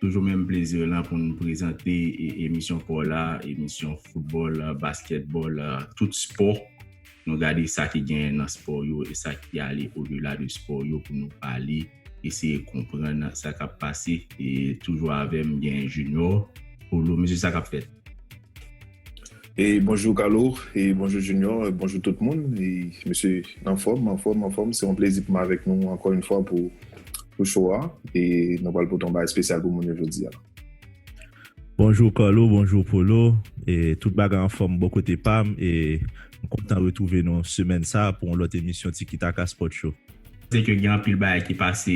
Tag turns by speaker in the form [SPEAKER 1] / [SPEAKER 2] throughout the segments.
[SPEAKER 1] Toujou menm plezi lan pou nou prezante emisyon paw la, emisyon foutbòl, baskètbòl, tout spò. Nou gade sa ki genyen nan spò yo e sa ki ale o dela de spò yo pou nou pale, eseye konprann sa kap pase e toujou avèm gen Junior, Polo, mesye sa kap fèt?
[SPEAKER 2] E bonjou Kalo, e bonjou Junior, e bonjou tout moun, e mesye nan fòm, an fòm, an fòm, se yon plezi pou m avèk nou ankò yon fwa pou pou show a, e nou pral pote yon bagay spesyal pou moun yo jodi a.
[SPEAKER 3] Bonjou Kalo, bonjou Polo, e tout bagay an fòm bò kote pa m, e m kontan retwouve nou semèn sa pou yon lòt emisyon Tiki Taka Sport Show. Se ke gen anpil
[SPEAKER 1] bagay ki pase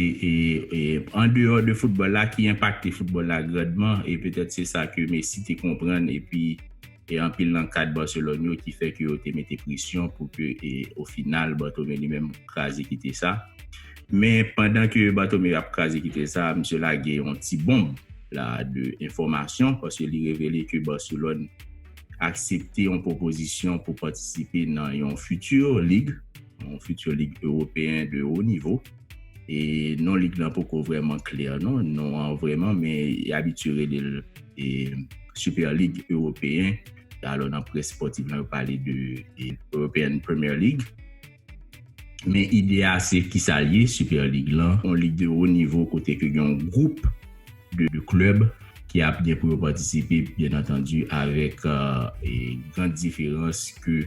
[SPEAKER 1] an deyò de foutbòl la ki enpakte foutbòl la grandman e petèt se sa ke Messi te konprann epi anpil nan kad Barcelone yo ki fè ke yo te mete presyon pou ke o final Bartomeu li menm kraze kite sa. Men pandan ke Bartomeu ap kraze kite sa, misye lage yon ti bonb la de enfòmasyon paske li revele ke Barcelone aksepte yon pwopozisyon pou patisipe nan yon futur ligue. yon futur lig ewopeyen de wo nivo, e non lig lan poko vreman klè non, non an vreman men y abitye rele l e Super Lig Ewopeyen, alò nan près spòtiv lan yo pale de European Premier League. Men ide a se kisa l ye Super Lig lan, yon lig de wo nivo kote ke gen yon gwoup. de 2 club ki ap gen pou yo patisipe byen antandi avèk grand diferans ke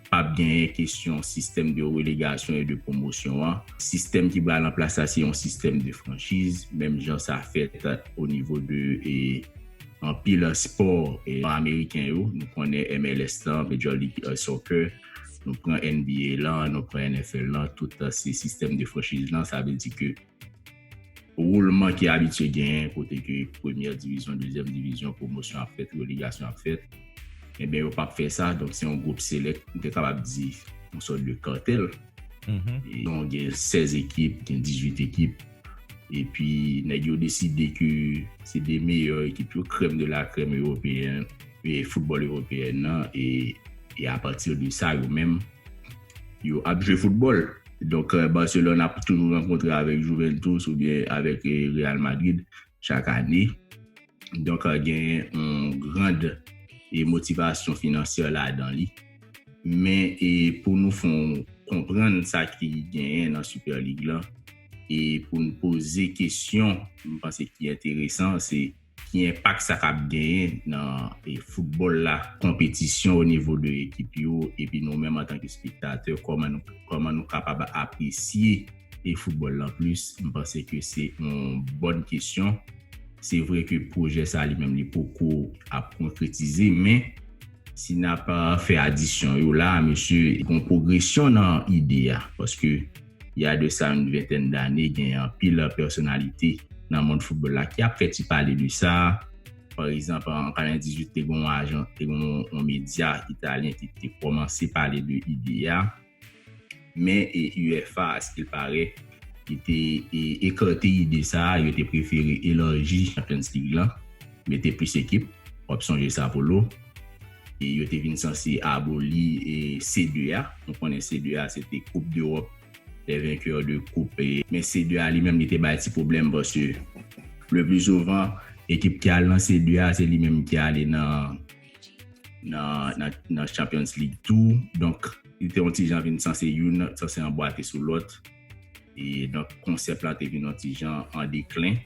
[SPEAKER 1] pap genyen kesyon sistèm de relegasyon e de pwomosyon an. Sistèm ki pral an plas la se yon sistèm de franchiz menm jan sa fèt o nivo de anpil spò nò ameriken yo. Nou konnen MLS lan, Major League Soccer, nou pran NBA lan, nou pran NFL lan tout se sistèm de franchiz lan sa vle di ke. Woulman ki abitye genyen kote ke premyè divizyon, dezyèm divizyon, pwomosyon ap fèt, relegasyon ap fèt, enben yo pap fè sa, donk se yon gwoup selèk, m te kapab di yon sòt de kantèl, yon gen 16 ekip, gen 18 ekip, epi nèg yo deside ke se 2 meyè ekip yo, krèm de la krèm ewopeyen, e foutbòl ewopeyen nan, e apati de sa yo menm, yo ap jwe foutbòl. Donk Barcelone ap toujou rankontre avèk Juventus oubyen avèk Real Madrid chak ane. Donk genyen yon grand motivasyon finansyè ladan li. Men pou nou fè w konprann sa ki genyen nan Super League lan e pou n poze kesyon m panse ki enteresan se. Ki enpak sa kab genyen nan foutbòl la, konpetisyon o nivo de ekip yo epi nou menm antanke spektatè kòman nou kapab apresye e foutbòl lan plis? M panse ke se yon bòn kesyon. Se vre ke pwojè sa li menm li poko ap konkretize men si n ap fè adisyon yo la a mesye gon pwogresyon nan ide a paske y a de sa yon ventèn dane gen anpil pèsonalite nan mond foutbòl la ki ap fè ti pale de sa. Pa egzanp, an 98 te gen yon medya italyen ki te kòmanse pale de ide a. Men UEFA a skill pare ki te ekate ide sa a, yo te prefere elarji Champions League lan. Mete plis ekip, w ap sonje Sa Polo, e yo te vin sanse aboli C2 a. Nou konnen C2 a se te Coupe d'Europe des vainqueurs de coupe. Men C2 a li menm li te bay ti pwoblèm paske le plus souvent ekip ki al nan C2 a se li menm ki ale nan Champions League tou. Donk li te yon ti jan vin sanse youn, sanse anbwate sou lòt. E donk konsèp la te vin yon ti jan an deklen.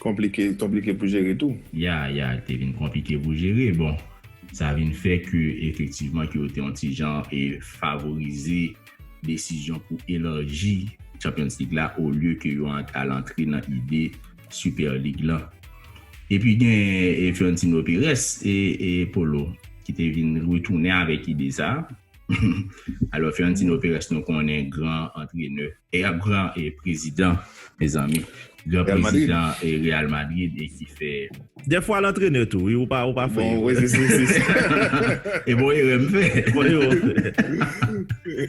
[SPEAKER 1] Konplike,
[SPEAKER 2] konplike pou jere tou. Ya, ya, li te vin
[SPEAKER 1] konplike pou jere. Bon, sa vin fè ke efektivman ke yo te yon ti jan e favorize desizyon pou elarji Champions League la olye ke yo al antre nan ide Super League lan. E pi gen Florentino Perez e Polo ki te vin retounen avèk ide sa. Alò Fiorentino Perez nou konnen gran antrenè. E ap gran prezidan mezanmi. Gran prezidan Real Madrid e ki fè. Dè fwa l antrenè
[SPEAKER 3] tou wi ou pa fè erè.
[SPEAKER 2] E
[SPEAKER 1] bon erè m fè.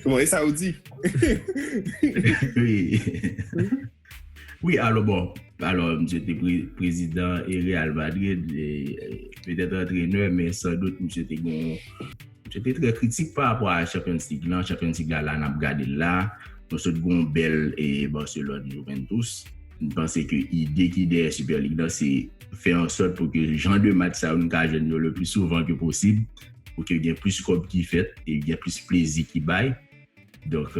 [SPEAKER 1] Bon
[SPEAKER 2] e sa ou di.
[SPEAKER 1] Wi alo bon alo misye te prezidan e Real Madrid e petèt antrenè men san dout misye te gen misye te trè kritik pa rapò a Champions League lan, Champions League la la n ap gade l la nou sot gen yon bèl e Barcelone Juventus m panse ke ide ki dèyè Super League lan se fè ansòt pou ke jan de match sa yo nou ka jwenn yo le pli souvan ke posib pou ke gen plis kòb ki fèt e gen plis plezi ki bay Donk,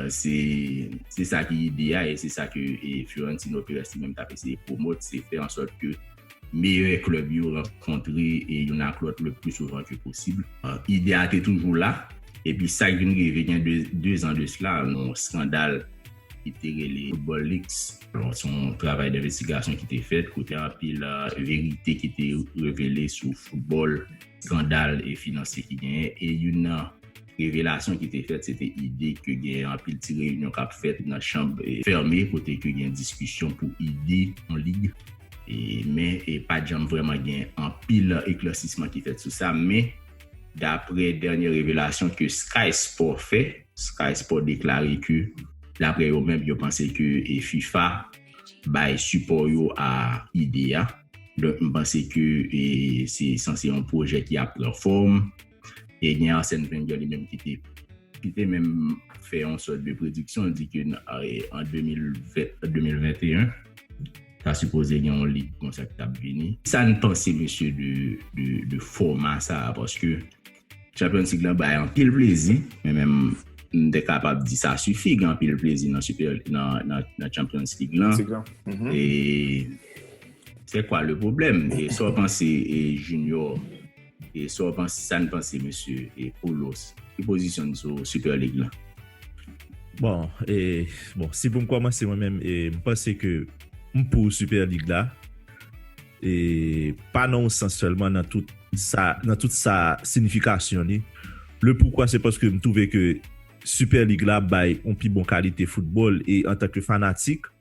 [SPEAKER 1] se sa ki ide a e se sa ke Florentino Perez li menm t ap eseye pwomote, se fè an sòt ke meyè klèb yo rankontre youn ak lòt le pli souvan ke posib. Ide a te toujou la, epi sa k vin rive gen dezan de sla, yon skandal ki te rele Football Leaks. Donk, se yon travay denvestigasyon ki te fèt, kote anpil verite ki te revele sou foutbòl, skandal finansye ki genyen e youn nan. Revelasyon ki te fèt se te ide ke gen anpil ti reyinyon k ap fèt nan chanb fèmen kote ke gen diskisyon pou ide yon lig men pa t janm vrèman gen anpil eklèsisman ki fèt sou sa men daprè dènye revelasyon ke Sky Sport fè Sky Sport deklare ke daprè yo menm yo panse ke fifa bay sipò yo a ide a donk m panse ke se sanse yon pwojè ki ap pran fòm. e gen Arsène Wenger li menm ki te ki te menm fè yon sòt de prediksyon di ke an 2021 ta sipoze gen yon lig konsa ki tap vini. Sa n panse mesye de fòma sa a paske Champions League la bay anpil plezi men menm m te kapab di sa sifi gen anpil plezi nan Champions League lan e se kwa le pwoblèm e sa w panse Junior? E sa w panse, sa n panse mesye e Poulos, ki pozisyon n sou Super League lan? Bon,
[SPEAKER 3] e bon si pou m kòmanse mwen menm e m panse ke m pou Super League la e pa nan yon sans sèlman nan tout sa nan tout sa sinifikasyon li. Le poukwa se paske m twouve ke Super League la bay yon pi bon kalite foutbòl e antanke fanatik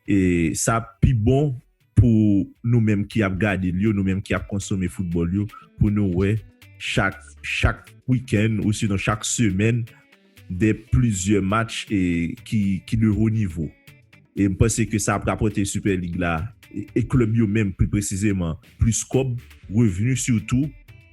[SPEAKER 3] e sa pi bon pou nou menm ki ap gade l yo, nou menm ki ap konsome foutbòl yo, pou nou wè chak, chak wikenn ou sinon chak semèn de plizyè match e ki, ki de wo nivo. E m panse ke sa ap rapòte Super League la e klèb yo menm pi presizeman plis kòb, revni sitou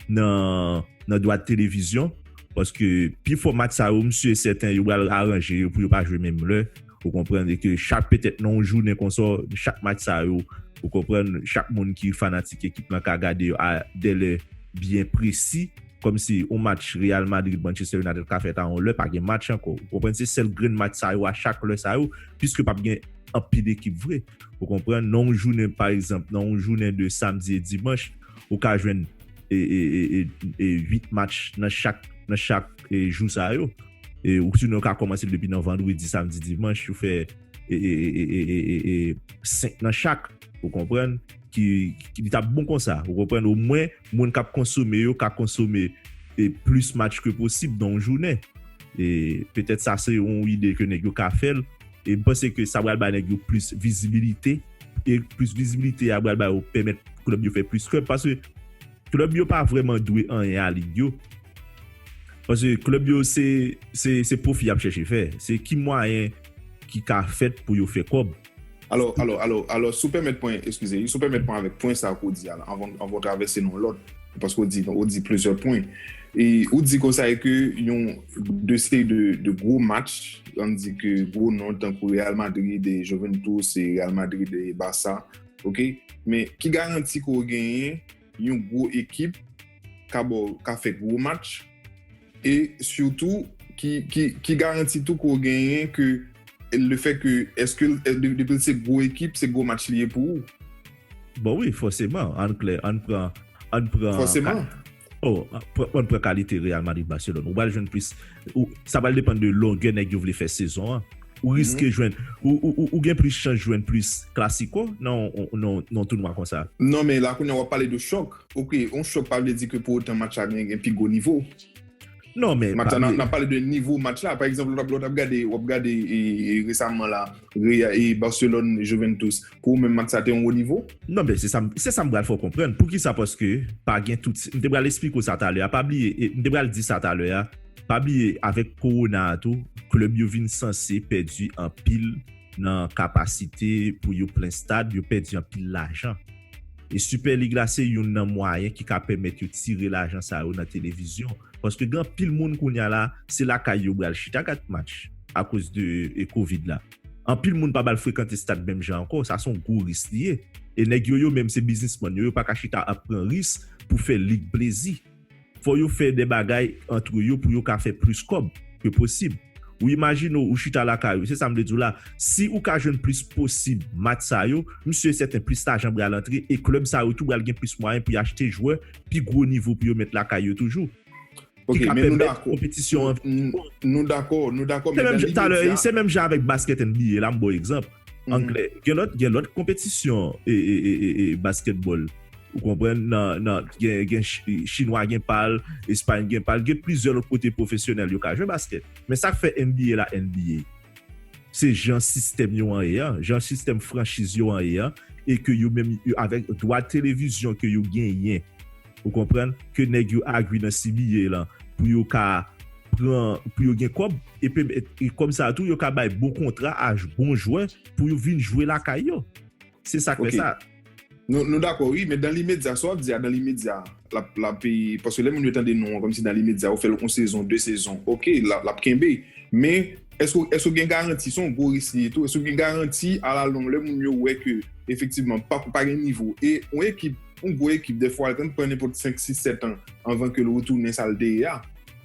[SPEAKER 3] nan, nan dwa de televizyon paske pi fò match sa yo m si e sèten yo pral aranje yo pou yo pa jwe menm lè. Ou konprann e ke chak petèt nan yon jounen konsa, chak match sa yo, ou konprann, chak moun ki fanatik ekip lan ka gade yo a dè lè byen presi. Kòmsi yon match Real Madrid, Manchester United ka fèt a yon lè, pa gen match ankò. Ou konprann? Se sèl grenn match sa yo a chak lè sa yo, piske pap gen anpil ekip vre. Ou konprann? Nan yon jounen, pa egzanp, nan yon jounen de samdi e dimanch, ou ka jwenn e, e, e, e, e 8 match nan chak, nan chak e jou sa yo. e ou sinon ka komanse depi nan vandredi samdi dimanch ou fè e e e e e e e 5 nan chak ou konprann ki li tap bon konsa ou konprann ou mwen moun kap konsome yo ka konsome e plis match ke posib nan yon jounen e petèt sa se yon ide ke nèg yo ka fèl e m panse ke sa pral bay nèg yo plis vizibilite e plis vizibilite a pral bay yo pèmèt klèb yo fè plis klèb paske. Club yo pa vreman dwe anyen a lig yo. Paske club yo se se pwofi yap chèche fè. Se ki mwayen ki ka fèt pou yo fè kòb. Alò, alò, alò,
[SPEAKER 2] alò, si w pèmèt mwen, eskize, si w pèmèt mwen avèk pwen sa ke w di a la, anvan, anvan w travèse nan yon lòt, paske w di, w di plizyè pwen. E ou di konsa e ke yon de seri de, de gwo match, an di ke gwo non tankou Real Madrid e Juventus e Real Madrid e Barça, ok men ki garanti ke w genyen yon gwo ekip ka ba w ka fè gwo match e sitou ki garanti tou ke w genyen ke le fè ke eske depi l se gwo ekip se gwo match li ye pou ou. Bon wi
[SPEAKER 3] fòseman ann klè ann pran. Fòseman.
[SPEAKER 2] Oh
[SPEAKER 3] pwan pwan kalite Real Madrid Barcelone ou pral jwenn plis ou sa pral depann de longè nèg yo vle fè sezon an ou riske jwenn ou gen plis chans jwenn plis klasiko nan yon tounwa konsa. Non men la kounya wap pale
[SPEAKER 2] de chòk ok yon chòk pa vle di ke pou otan match la gen pi gwo nivo. Non men
[SPEAKER 3] pa bliye. Nap pale de nivo
[SPEAKER 2] match la. Pa egzanp lè wap gade, wap gade resaman la e Barcelone Juventus. Pou ou menm match sa te yon wo nivo? Non men se sam, se
[SPEAKER 3] sam pral fè w konprann. Poukisa paske pa gen tout ti, m te pral esplike w sa talè a. Pa bliye, m te pral di sa talè a. Pa bliye avèk kowona a tou, klèb yo vin sanse pèdi anpil nan kapasite pou yo plen stad, yo pèdi anpil lajan. E Super League la se youn nan mwayen ki ka pèmèt yo tire lajan sa yo nan televizyon. Paske gen anpil moun kounya la, se lakay yo bral chita gad match akoz de covid la. Anpil moun pa bal frekante stad menm jan ankò, sa se yon gwo ris li ye. E nèg yo yo menm se biznisman yo, yo pa ka chita ap pran ris pou fè lig plezi. Fò yo fè de bagay antre yo pou yo ka fè plis kòb ke posib. Ou imajine w ou chita lakay ou, se sa m vle di w la, si ou ka jwenn plis posib match sa yo, m si e sèten plis lajan pral antre e klèb sa yo tou pral gen plis mwayen pou y achte jwè pi gwo nivo pou yo met lakay yo toujou. Ki ka
[SPEAKER 2] pèmèt konpetisyon an vin pi bon.
[SPEAKER 3] Se menm jan avèk baskèt NBA, la m ba w egzanp. Anglè. Gen lòt gen lòt konpetisyon e e e e e baskètbòl ou konprann nan nan gen gen chi chinwa gen pa l espay gen pa l gen plizyè lòt kote pwofesyonèl yo ka jwe baskèt men sa k fè NBA la NBA se jan sistèm yo an ye an jan sistèm franchiz yo an ye an e ke yo menm avèk dwa televizyon ke yo genyen ou konprann, ke nèg yo agree nan cba lan pou yo ka pran, pou yo gen kòb, epi kòb sa tou yo ka bay bon kontra a bon jwè pou yo vin jwe lakay yo. Se sak fè sa. Nou dakò
[SPEAKER 2] wi, men dan limedya, sa wap di a dan limedya lap peye, paske lè moun yo tande non an kòmsi dan limedya ou fèl yon sezon, 2 sezon, ok lap kenbe, men èske ou gen garanti, se yon gwo risk li ye tou, èske ou gen garanti a la long lè moun yo wè ke efektivman pa gen nivo e yon ekip Yon gwo ekip defwa l konn pran nenpòt 5, 6, 7 an anvan ke l retounen sa l te ye a.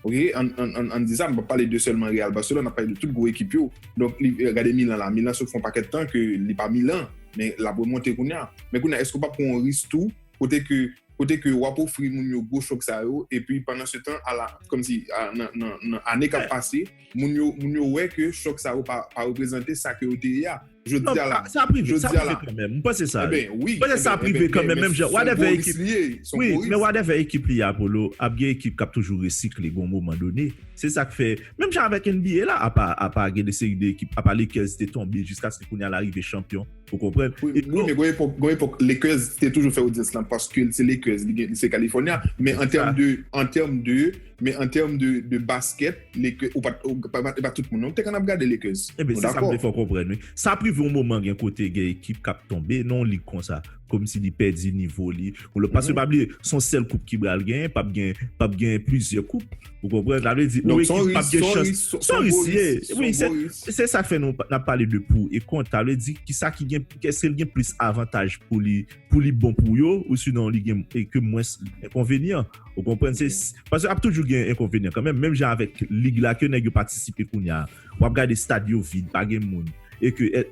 [SPEAKER 2] Ok, ann di sa, m p ap pale de sèlman Real, Barcelone, m ap pale de tout gwo ekip yo. Donk, gade Milan la, Milan sot fè yon pakèt tan ke li pa Milan, men l ap remonte kounya. Men kounya èske w pa p pran yon risk tou kote ke, kote ke w ap ofri moun yo gwo chòk sa yo epi pandan se tan ala, kòmsi nan ane k ap pase, Moun yo moun yo wè ke chòk sa yo pa pa reprezante sa ke yo te ye a. Jodi a la. Sa prive, sa prive
[SPEAKER 3] kanmenm. M panse sa. Eben wi. M panse sa prive
[SPEAKER 2] kanmenm
[SPEAKER 3] menm jan. Son Boris li ye. Son Boris. Wi, men whatever ekip li ye a Polo, ap gen ekip k ap toujou resikle gon moman done. Se sa k fè, menm jan avèk NBA la, apa apa gen de seri de ekip, apa Lakers te tonbe jiskaske kounye a l arive chanpyon. Ou konprann? Wi, men gon epòk,
[SPEAKER 2] gon epòk Lakers te toujou fè odyans lan paske l se Lakers, li gen, li se California, men an tèm de, an tèm de. Men an term de basket, Lakers, ou pat, e pa tout moun non ki te konn ap gade Lakers. Nou dakò? Enben, se sa m te fè w
[SPEAKER 3] konprann wi. Sa ap rive yon moman gen kote gen ekip k ap tonbe nan yon lig konsa, kòmsi li pèdi nivo li. Paske pa bliye, se yon sèl koup ki pral genyen, p ap gen, p ap gen plizyè koup. Ou konprann? Sa vle di, yon ekip p ap gen chans. Donk, s on risk, s on risk, se yon risk. Wi, se, se sa k fè nou, n ap pale de pou e kont. Sa vle di, ki sa ki gen, èske l gen plis avantaj pou li, pou li bon pou yo, ou sinon li gen, e ke mwens enkonvenyan. Ou konprann se, paske ap toujou gen enkonvenyan kanmenm, menm jan avèk lig la ke nèg yo patisipe kounya, wap gade stad yo vid, pa gen moun, e ke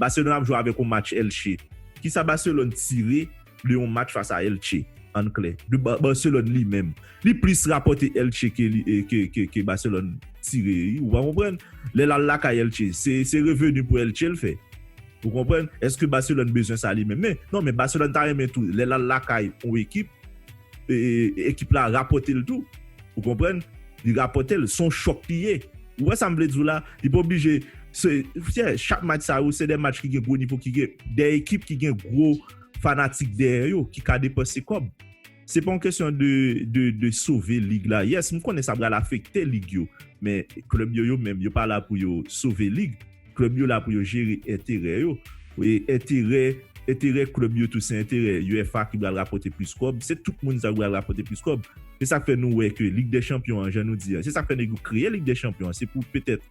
[SPEAKER 3] Barcelone ap jwe avèk yon match Elche. Kisa Barcelone tire de yon match fas a Elche? Ann klè, de Barcelone li menm. Li plis rapòte Elche ke Barcelone tire wi, ou pa konprann? Lè lal lakay Elche, se reveni pou Elche l fè. Ou konprann? Eske Barcelone bezwen sa li menm? Men, non men Barcelone ta renmen tou, lè lal lakay yon ekip, ekip la rapòte l tou ou konprann li rapòte l son chòk li ye ou wè sa m vle di w la li pa oblije se fè chak match sa yo se 2 match ki gen gwo nivo ki gen 2 ekip ki gen gwo fanatik dèyè yo ki ka depanse kòb se pa yon kesyon de de de sove lig la yes m konnen sa pral afekte lig yo men klèb yo yo menm yo pa la pou yo sove lig. Klèb yo la pou yo jere enterè yo. Enterè enterè klèb yo tou se enterè uefa ki pral rapòte plis kòb. Se tout moun sa ki pral rapòte plis kòb. Se sa k fè nou wè ke Lig dè Chanpyon an jan nou di a. Se sa k fè nèg yo kreye Lig dè Chanpyon an. Se pou petèt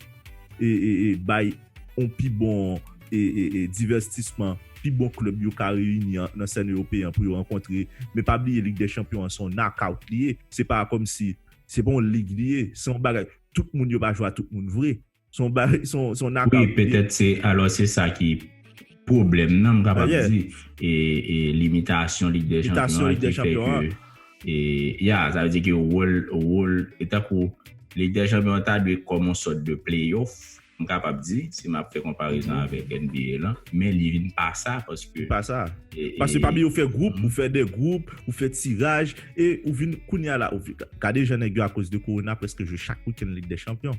[SPEAKER 3] e e bay yon pi bon e e divèstisman. Pi bon klèb yo ka reyini an nan sèn ewopeyen an pou yo rankontre. Men pa bliye Lig dè Chanpyon an se yon nakout li ye. Se pa kòmsi se pa yon lig li ye. Se yon bagay tout moun yo pa jwe a tout moun vre. Son bagay, son, son naka. Wi, petèt se,
[SPEAKER 1] alò se sa ki pwoblèm nan m kapab di. E, e limitasyon Lig dè Chanpyon an ki fè ke e, ya, sa vle di ke wòl, wòl, e tankou Lig dè Chanpyon an ta dwe kòm yon sòt de playoff, m kapab di, si m ap fè konparezon avèk NBA lan, men li vin pa sa paske. Li pa sa. Paske pami yo fè gwoup, ou fè 2 gwoup, ou fè tiraj, e ou vin, kounye a la, gade jan nèg yo akoz de Kowona prèske jwe chak wikenn Lig dè Chanpyon.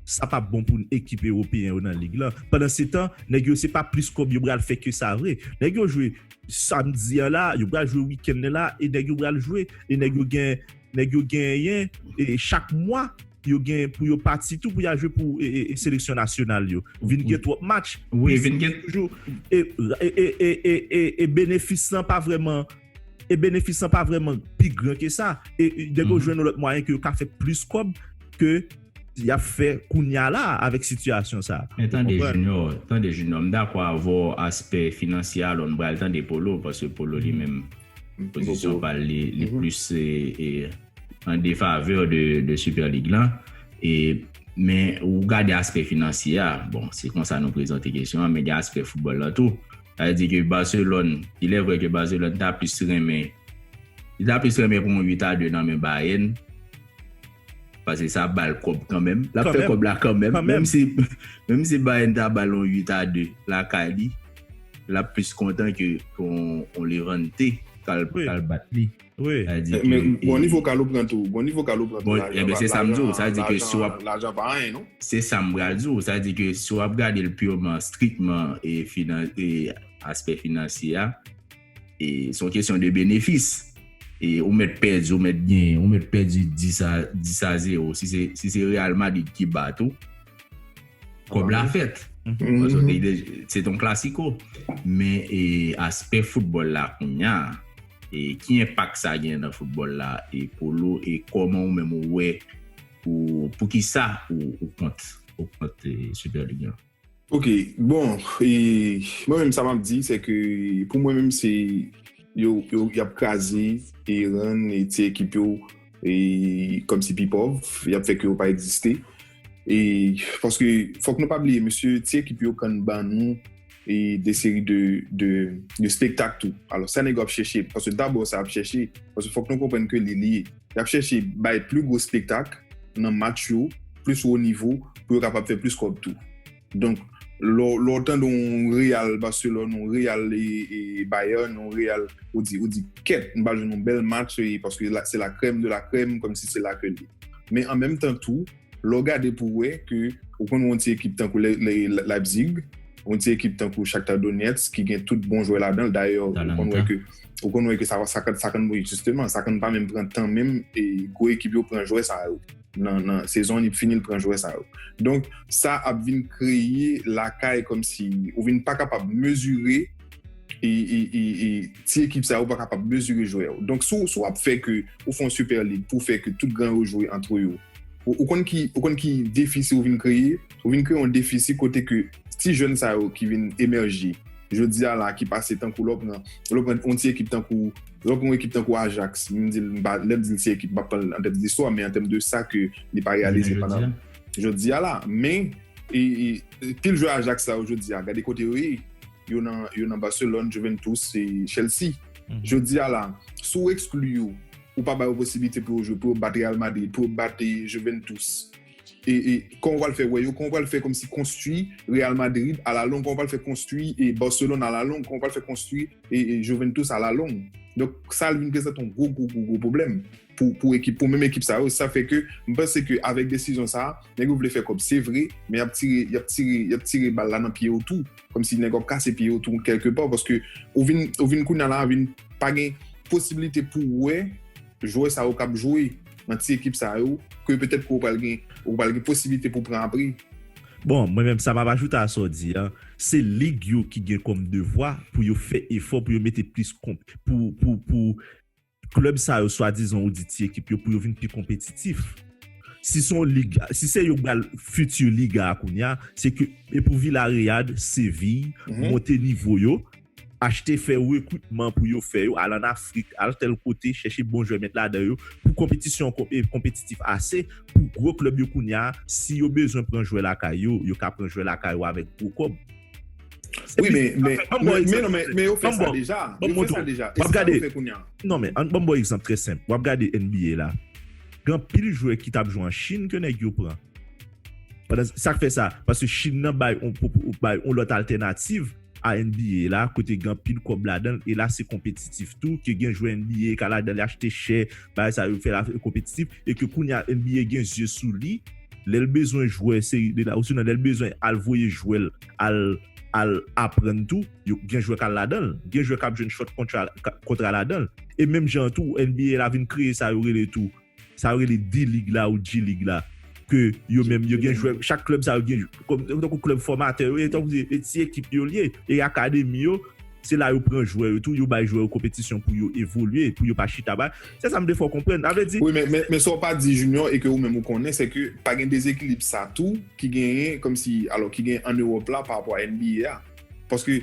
[SPEAKER 1] Sa pap bon pou ekip ewopeyen yo nan lig lan. Pandansetan, nèg yo se pa plis kòb yo pral fè ke sa vre. Nèg yo jwe samdi an la, yo pral jwe wikenn nan la e nèg yo pral jwe e nèg yo gen nèg yo genyen e chak mwa yo gen pou yo pati tou pou y al jwe pou seleksyon nasyonal yo. Vin gen twòp match. Wi, vin gen. Toujou
[SPEAKER 3] e e
[SPEAKER 1] e
[SPEAKER 3] e benefis lan pa
[SPEAKER 1] vrèman.
[SPEAKER 3] e benefis lan pa vreman pi gran ke sa, e dèke yo jwenn yon lòt mwayen ke yo ka fè plis kòb ke yap fè kounya la avèk sitiyasyon sa. Men tande Junior,
[SPEAKER 1] tande Junior, m dakò avè w aspè finansye a, alò n pral tande Polo, paske Polo li menm pozisyon pa l li plis an defavè de Super League lan, e men ou gade aspè finansye a, bon se konsa nou prezante kesyon an, men gen aspè foutbòl lan tou. Sa vle di ke Barcelone, il est vrai ke Barcelone ta plis renmen, li ta plis renmen pran yon 8 a 2 nan men Bayern, pase sa ap ba l kòb kanmenm, l ap fè kòb la kanmenm, menm si, menm si Bayern ta ba l yon 8 a 2 lakay li, l ap plis kontan ke pou yon Levante k al bat li. Wi. Sa vle di ke.
[SPEAKER 2] Men bon ni vokal ou pran tou. Bon ni vokal ou pran tou. Bon enben
[SPEAKER 1] se sa m di w. Sa vle di ke si w ap. Lajan pa anyen
[SPEAKER 2] non. Se sa m pral di w.
[SPEAKER 1] Sa vle di ke si w ap gade l pureman, strikman e finan e aspè finansye a e se yon kesyon de benefis e ou mèt pèdi ou mèt genyen. Ou mèt pèdi 10 a 10 a 0 si se si se Real Madrid ki bat ou. Kob la fèt. Se ton klasiko. Men aspè foutbòl la kounya, ki enpak sa gen nan foutbòl la e pou lou e kòman ou menm ou wè pou ki sa ou kont ou kont Super League lan? Ok,
[SPEAKER 2] bon, mwen menm sa map di se ke pou mwen menm se yo yap kraze e rann ti ekip yo kòm si pi pòv, yap fè ke yo pa egziste. E, paske, fòk nou pa bliye, mesye, ti ekip yo kan ban nou e de seri de, de, de spektak tou. Alò, sa nèg yo ap chèche, paske dabò sa ap chèche, paske fòk nou konprann ke li liye. Y ap chèche bay pli gwo spektak nan match yo, plis wo nivo, pou yo kapab fè plis kòb tou. Donk, lè w tande yon Real Barcelone, yon Real Bayern, yon Real, ou di, ou di, kèt, m pral jwenn yon bèl match, paske se la krèm de la krèm, kòm si se la ke l ye. Men an menm tan tou, lè w gade pou w wè ke ou konn yon ti ekip tankou Leipzig, yon ti ekip tankou Shakhtar Donetsk ki gen tout bon jwè ladan l, dayè, ou konn wè ke, ou konn wè ke sa, sa konn, wi, jisteman, sa konn pa menm pran tan menm, e gwo ekip yo pran jwè sa yo. nan sezon li fini li pran jwè sa yo donk sa ap vin kreye lakay kòmsi ou vin pa kapab mezire e ti ekip sa yo pa kapab mezire jwè yo donk si w ap fè ke ou fè yon super league pou fè ke tout gran yo jwe antre yo ou konn ki defisi ou vin kreye ou vin kreye yon defisi kote ke ti jèn sa yo ki vin emèje jodi a la ki pase tankou lè w pran yon ti ekip tankou Lè w gen yon ekip tankou Ajax, m di l, lè m di l se ekip, m pa pran l an tèt listwa, men an tèm de sa ke li pa reyalize pandan jodi a la. Men, pil jwè Ajax sa yo jodi a, gade kote yo ye. Yo nan Barcelone, Juventus, Chelsea. Jodi a la, si w ekskli yo, ou pa ba yo posiblite pou yo jwe, pou yo bat Real Madrid, pou yo bat Juventus, Kòman w pral fè wè yo? Kòman w pral fè kòmsi konstwi Real Madrid alalong? Kòman w pral fè konstwi Barcelone alalong? Kòman w pral fè konstwi Juventus alalong? Donk, sa vin prezante yon gwo gwo gwo pwoblèm pou menm ekip sa yo. Sa fè ke m panse ke avèk desizyon sa a, nèg yo vle fè kòb se vre, men y ap tire, y ap tire, y ap tire bal la nan pye yo tou. Kòmsi nèg yo ap kase pye yo tou kèlke pa paske ou vin, ou vin kounye a la a vin pa gen posibilite pou wè. Jwè sa yo kap jwe nan ti ekip sa yo, ke petèt ke ou pral gen, ou pral gen posibilite pou pran a pri. Bon, mwen menm
[SPEAKER 3] sa map ajoute a sa w di a, se lig yo ki gen kòm devwa pou yo fè efò pou yo mete plis konp, pou, pou, pou klèb sa yo swadizan ou di ti ekip yo pou yo vin pi konpetitif. Si se yon lig, si se yo k bal fiti liga a kounya, se ke e pou Villareal, Séville, monte nivo yo. Achte fè rekritman pou yo fè yo al an Afrik, al tèl kote, chèche bon jwè met ladan yo pou konpetisyon an konpetitif ase pou gwo klèb yo kounye a si yo bezwen pran jwè lakay yo, yo ka pran jwè lakay yo avèk gwo kòb.
[SPEAKER 2] Wi men, men, men non men, men yo fè sa deja, yo fè sa deja, e sa yo fè
[SPEAKER 3] kounye a? Non men, an ban m ba w egzanp trè senp, w ap gade NBA la, gen anpil jwè ki t ap jwe an Chin ke nèg yo pran. Sa k fè sa? Paske Chin nan bay yon lòt altènativ. a NBA la kote gen anpil kòb ladan l e la se konpetitif tou ke gen jwè NBA ka ladan li achte chè bagay sa yo fè la konpetitif e ke kounya NBA gen zye sou li lè l bezwen jwè seri de la osinon lè l bezwen al voye jwè l al al aprann tou yo gen jwè k al ladan l gen jwè k ap jwenn short kontra kontra ladan l e menm jan an tou NBA la vin kreye sa yo rele tou. Sa yo rele D-League la ou G-League la ke yo menm yo gen jwè, chak klèb sa yo gen kòm tankou klèb fòmatè yo ye, tankou se e ti ekip yo li ye, e akademi yo, se la yo pran jwè yo tou, yo bay jwè yo konpetisyon pou yo evolye, pou yo pa chita ba, se sa m te fè w konprann, sa vle di. Wi men, men sa w pa
[SPEAKER 2] di Junior e ke ou menm ou konnen se ke pa gen dezekilib sa tou ki genyen kòm si, alò ki genyen an Ewòp la parapò a NBA a, paske,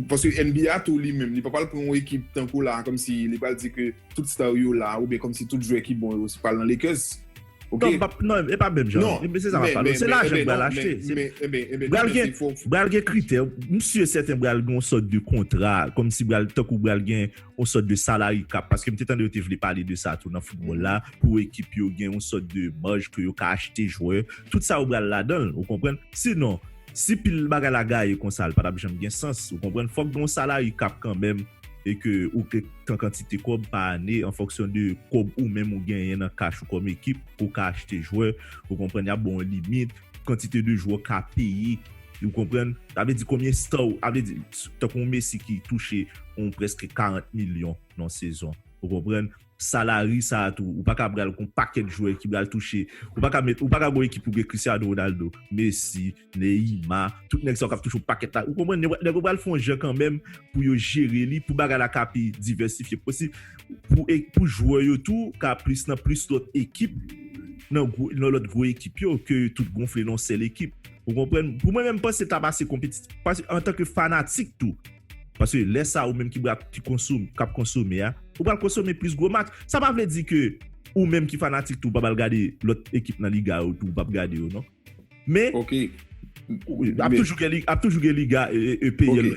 [SPEAKER 2] paske NBA tou li menm li pa pral pran yon ekip tankou la kòm si li pral di ke. tout star yo la oubyen kòmsi tout jwè ki bon yo se pral nan Lakers. Ok. Non, pap non, e pa menm
[SPEAKER 3] jan. Non, men, se sa map pale. Se lajan ki pral achte. Men, men, men, men, men, pral gen, pral gen kritè. M si e sèten pral gen yon sòt de kontra, kòmsi pral tankou pral gen yon sòt de salary cap, paske m te tande yo te vle pale de sa tou nan foutbòl la, pou ekip yo gen yon sòt de maj ke yo ka achte jwè. Tout sa yo pral ladan l, ou konprann? Sinon, si pil bagay la gaye konsa, l pa tap janm gen sans, ou konprann? Fòk gen yon salary cap kanmenm e ke ou ke tan kantite kòb pa ane an fonksyon de kòb ou menm ou genyen nan kach ou kòm ekip pou ka achte jwè ou konprann yap ba w yon limit kantite de jwè w ka peye ou konprann sa vle di konbyen star ou sa vle di tankou yon Messi ki touche yon prèske 40 milyon nan yon sezon ou konprann salary sa a tou ou pa ka pral gon pakèt jwè ki pral touche ou pa ka met ou pa ka gon ekip pou gen Cristiano Ronaldo Messi. Neïma, tout nèg sa yo k ap touche w pakèt la, ou konprann, nèg yo pral fè yon jan kanmenm pou yo jere li, pou bagay la ka pi divèsifye posib, pou jwè yo tou ka plis nan plis lòt ekip, nan lòt gwo ekip yo, ke yo tout gonfle nan yon sèl ekip, ou konprann. Pou mwen menm, m panse ta pase konpetitif, paske antanke fanatik tou, paske lè sa ou menm ki bra, ki konsome, k ap konsome a, ou pral konsome plis gwo match, sa pa vle di ke ou menm ki fanatik tou, ou pa pral gade lòt ekip nan liga yo tou, ou p ap gade yo non. Men, ap toujou gen liga, ap toujou gen liga EPL.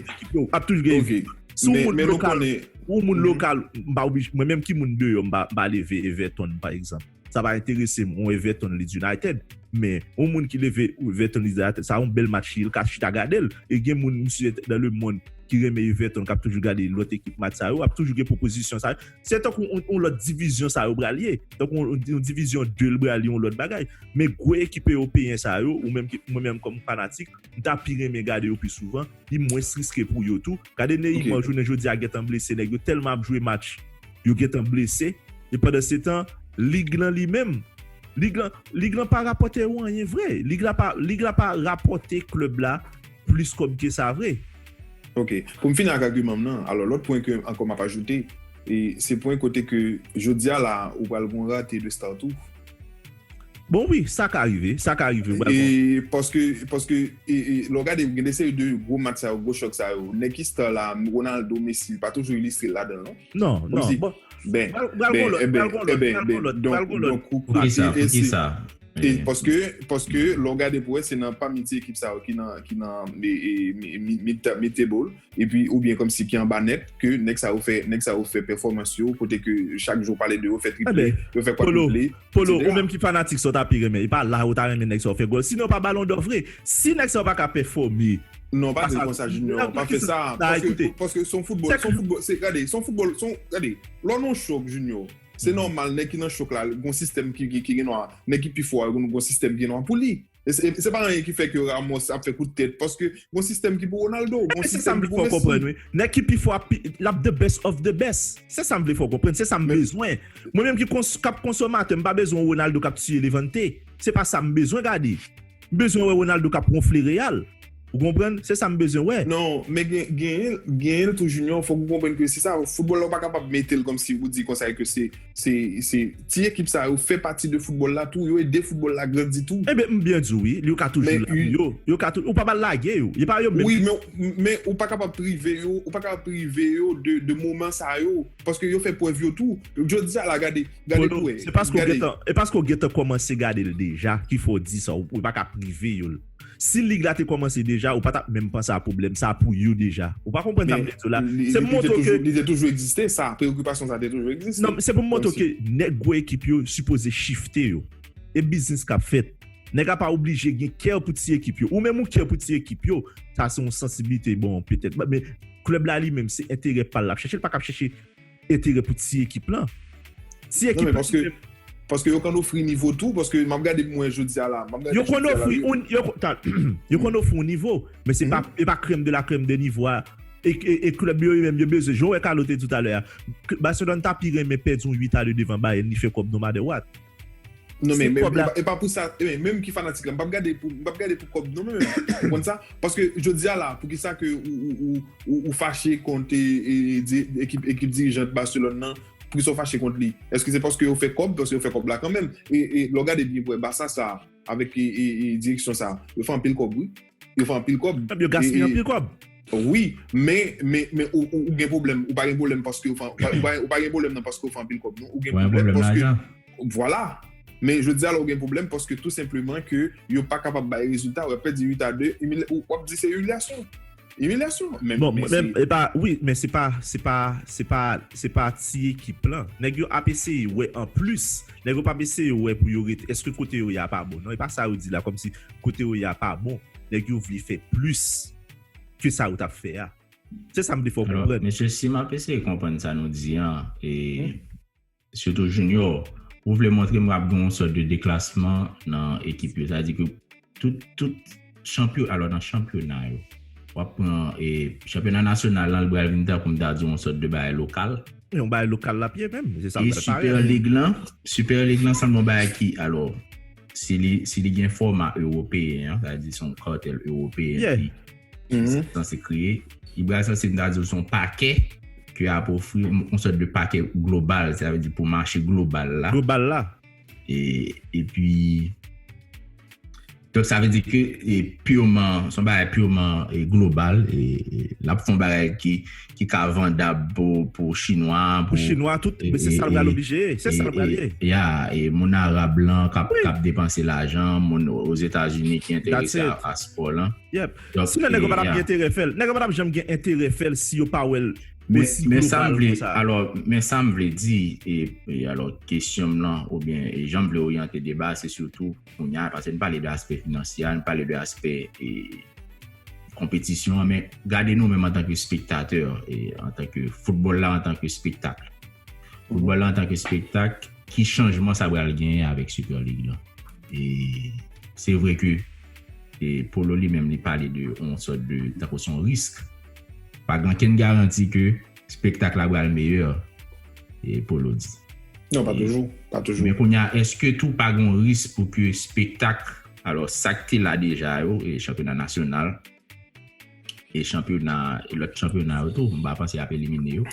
[SPEAKER 3] Ap toujou gen liga EPL. Si yon moun lokal, yon moun lokal, mwen menm ki moun deyò, mwen pa leve Everton, pa egzanp. Sa pa enterese mwen, yon Everton Leeds United. Men, yon moun ki leve Everton Leeds United, sa yon bèl match, yon ka chita gade l. E gen moun, misye, nan le moun ki reme Everton, kap toujou gade lòt ekip match sa yo, ap toujou gen pwopozisyon sa yo. Se tankou yon lòt divizyon sa yo pral ye. Tankou yon divizyon 2 l pral yon lòt bagay. Men gwo ekip ewopeyen sa yo, ou menm, mwen menm kòm fanatik, m ta pi renmen gade yo pi souvan, li mwens riske pou yo tou. Gade Neymar jounen jodi a gentan blese, nèg yo tèlman ap jwe match, yo gentan blese. E pandansetan, lig lan li menm, lig lan, lig lan pa rapòte yo anyen vre. Lig la pa, lig la pa rapòte klèb la. Plis kòb ke sa vre. Ok.
[SPEAKER 2] Pou m fini ak agiman m nan, alò lòt pwen ke ankò m ap ajoute, e se pwen kote ke jodi a la a ou pral gon rate de start ou. Bon
[SPEAKER 3] wi, sa ka rive, sa ka rive, ou pral gon.
[SPEAKER 2] Paske, paske e, e lè w gade gen de seri de gwo match sa yo, gwo chòk sa yo, nèg ki star la a, Ronaldo, Messi, li pa toujou ilistre ladan l non. Non, non. Bon,
[SPEAKER 3] pral gon
[SPEAKER 1] lòt, pral gon lòt, pral gon lòt, pral gon lòt. Poukisa, poukisa? E paske,
[SPEAKER 2] paske lò w gade pou wè se nan pami ti ekip sa yo ki nan ki nan mid table epi oubyen kòmsi ki anba nèt ke nèg sa yo fè nèg sa yo fè pèfòmans yo kote ke chak jou w pale de yo fè triple yo fè kwadriple etc. Polo, Polo ou menm ki
[SPEAKER 3] fanatik sa w ta pi renmen e pa la ou ta renmen nèg sa yo fè gòl sinon pa balon dò vre si nèg sa yo pa ka pèfòme Non pa di l konsa
[SPEAKER 2] Junior, pa fè sa paske paske son foutbòl son foutbòl se gade son foutbòl son gade lò nan yon show Junior Se nòmal nèg ki nan chok la, gen yon sistèm ki gen dwa, nèg ki pi fò a, gen yon sistèm ki gen dwa pou li. Se pa anyen ki fè ke Ramos ap fè kout tèt, paske gen yon sistèm ki pou Ronaldo, gen yon sistèm ki pou Messi. Se sa m vle fè w konprann wi. Nèg ki pi fò a,
[SPEAKER 3] l ap the best of the best. Se sa m vle fè w konprann, se sa m bezwen. Mwen menm ki ap konsomatè, m pa bezwen yon Ronaldo k ap tiye Levante. Se pa sa m bezwen gade. M bezwen wè Ronaldo kap wonfle Real. Ou konprann? Se sa m bezwen wè. Non, men genyen,
[SPEAKER 2] genyen l tou Junior, fòk ou konprann ke se sa, foutbòl la ou pa kapab mete l kòmsi ou di konsa e ke se, se, se, ti ekip sa yo fè pati de foutbòl la tou, yo ede foutbòl la grandi tou. Enben, m byen di w wi,
[SPEAKER 3] li yo ka toujou la pou yo, yo ka tou, ou pa ba l lage yo, e pa yo menm ki. Wi, men, men ou
[SPEAKER 2] pa kapab prive yo, ou pa kapab prive yo de, de moman sa yo. Paske yo fè prèv yo tou. Jodi a la gade, gade pou wè. Se paske ou gentan,
[SPEAKER 3] e paske ou gentan kòmanse gade l deja ki fè w di sa. Ou pa ka prive yo l. Si lig la te kòmanse deja, ou pa t ap menm panse a pwoblèm sa pou yo deja. Ou pa konprann sa m vle di w la? Se pou montre w ke. Li te toujou egziste, sa.
[SPEAKER 2] Preokipasyon sa te toujou egziste. Non, se pou m montre w ke
[SPEAKER 3] nèg gwo ekip yo sipoze shifte yo. E biznis k ap fèt. Nèg la pa oblije gen kè pou ti ekip yo. Ou menm ou kè pou ti ekip yo. Sa se yon sansiblite, bon, petèt. Men. Klèb la li menm se enterè pa l lap chèche, l pa kab chèche enterè pou ti ekip lan. Ti ekip lan se menm. Paske
[SPEAKER 2] yo konn ofri nivo tou, paske map gade mwen jodi a la. Yo konn ofri yon,
[SPEAKER 3] yo konn ofri yon nivo, men se pa krèm de la krèm de nivo a. E klèb yo yo menm yo bezwen, jan wè Carlo te di w talè a, Barcelone ta pi renmen pèdi yon 8 a 2 devan Bayern li fè kòb no matter what. Non men,
[SPEAKER 2] e pa pou sa,
[SPEAKER 3] e men, menm
[SPEAKER 2] ki fanatik la, m pap gade pou, m pap gade pou kòb non menm, ou konn sa, paske jodi a la, pou ki sa ke ou fache kont ekip dirijant Barcelone nan, pou ki sa ou fache kont li, eske se paske yo fè kòb, paske yo fè kòb la kanmenm, e lè w gade byen pou wè Barça sa, avèk direksyon sa, yo fè anpil kòb wi. Yo fè anpil kòb. Yo gaspiye anpil kòb.
[SPEAKER 3] Wi,
[SPEAKER 2] men, men, men ou gen pwoblèm, ou pa gen pwoblèm paske yo fè, ou pa gen pwoblèm nan paske yo fè anpil kòb non, ou gen pwoblèm paske, vwala, men jodi a la ou gen pwoblèm paske tou senpleman ke yo pa kapab bay rezilta, ou ap pèdi 8 a 2, ou ap di se imilyasyon, imilyasyon, men, men se. Bon, men, e
[SPEAKER 3] pa, wi, men se pa, se pa, se pa, se pa ti ekip lan, nèg yo ap eseye wè anplis, nèg yo pa ap eseye wè pou yo rete, èske kote yo ye a pa bon non, e pa sa yo di la kòmsi. kote ou ye a pa bon, nèg yo vle fè plis ke sa yo tap fè a. Se sa m vle fè w konprann. Alò, mesye, si m ap eseye
[SPEAKER 1] konprann sa nou di an, e sitou Junior, ou vle montre m ap gen yon sòt de deklasman nan ekip yo. Sa vle di ke tout, tout chanpyo, alò nan chanpyona yo, w ap pran e chanpyona nasyonal lan li pral vin tankou m ta di w yon sòt de bagay lokal. Yon bagay lokal
[SPEAKER 3] l ap ye menm. Se sa l pral parèt. E Super League
[SPEAKER 1] lan, Super League lan sanble yon bagay ki, alò, Si li gen fòma ewopeyen an, sa di son kartel ewopeyen ki mm-hmm. san se kreye, li bral san se mda di son pake ki ap ofri yon sòt de pake global, sa di pou mache global la. Global la. E pi, donk sa ve di ke e pureman, son bagay pureman e global, e lap fon bagay ki ki ka vandab pou chinwa pou chinwa tout men
[SPEAKER 3] se sal pral oblije ye se sal pral ye ya e moun
[SPEAKER 1] arab lan kap depanse lajan moun ozetazini ki enterese a paspò lan yep si nèg
[SPEAKER 3] yo pa tap gen enterè fèl nèg yo pa tap janm gen enterè fèl si yo pa wèl osi global konsa men sam
[SPEAKER 1] vle alò men sam vle di e alò kesyonm lan oubyen e janm vle oryante deba se sitou Kounya a pase n pale de aspè finansye a, n pale de aspè e konpetisyon an men gade nou menm antan ke spektatè e antan ke foutbòl la antan ke spektak. Foutbòl la antan ke spektak, ki chanjman sa pral genyen avèk Super League lan? E se vre ke e Polo li menm li pale de yon sòt de tankou son risk. Pa gen ankenn garanti ke Spektak la pral meyè, e Polo di. Non, pa toujou,
[SPEAKER 2] pa toujou. Men kounye a,
[SPEAKER 1] eske tou pa gen yon risk pou ke spektak, alò sa k te la deja yo, e chanpyona nasyonal, e chanpyona, e lòt chanpyona yo tou, m pa panse y ap elimine yo.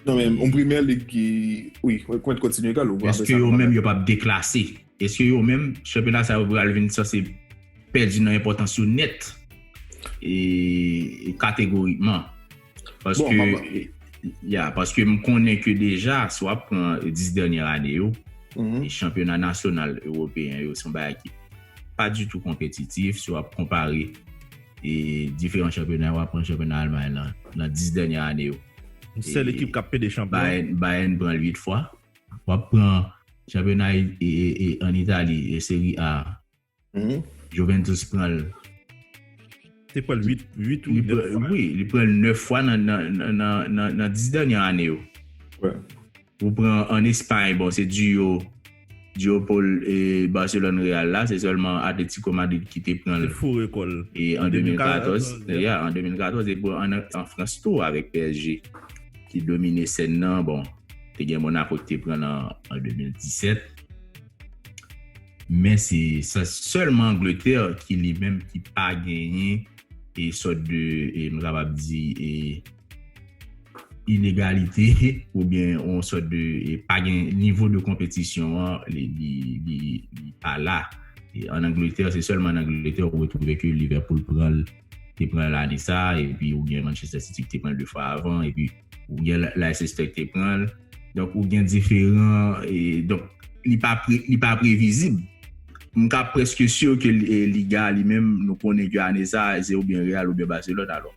[SPEAKER 1] Non men, yon
[SPEAKER 2] Premyè Lig ki, wi, mwen kontinye, Carlo. Eske yo menm yo
[SPEAKER 1] p ap deklase? Eske yo menm, chanpyona sa yo pral vin sanse? Pèdi nan enpòtans yo nèt e kategorikman. Paske. Ya, paske m konnen ke deja, si w ap pran 10 dènyè ane yo, chanpyona nasyonal ewopeyen yo se yon bagay ki pa ditou konpetitif si w ap konpare e diferan chanpyona yo. W ap pran chanpyona Almay lan nan 10 dènyè ane yo. Sèl ekip
[SPEAKER 3] k ap pede chanpyon. Bayern pran l 8 fwa.
[SPEAKER 1] W ap pran chanpyona an Itali, Serie A. Juventus pran l.
[SPEAKER 3] Te pran l 8 ou 9 fwa. Wi, li pran l 9 fwa
[SPEAKER 1] nan 10 dènye ane yo.
[SPEAKER 2] Ou pran
[SPEAKER 1] an Espay, bon, se duo Paul e Barcelone Real la, se sèlman Atletico Madrid ki te pran l. Te foure kò l. E
[SPEAKER 3] an
[SPEAKER 1] 2014, ya, an 2014, e pou an Frans tou avèk PSG ki domine sèn nan, bon, te gen Monaco ki te pran l an 2017. Men se sèlman Angletè ki li menm ki pa genyen e sòt de e m kapab di e inegalite ou byen on sòt de e pa gen nivo de konpetisyon an li li pa la. An Angletè se sèlman an Angletè ou retwouve ke Liverpool pran l te pran l ane sa epi ou byen Manchester City ki te pran l 2 fwa avan epi ou gen life suspect te pran donk ou gen diferan donk li pa li pa previzib m ka preske sur ke liga li menm nou konnen ke ane sa se ou byen real ou byen baselòn alò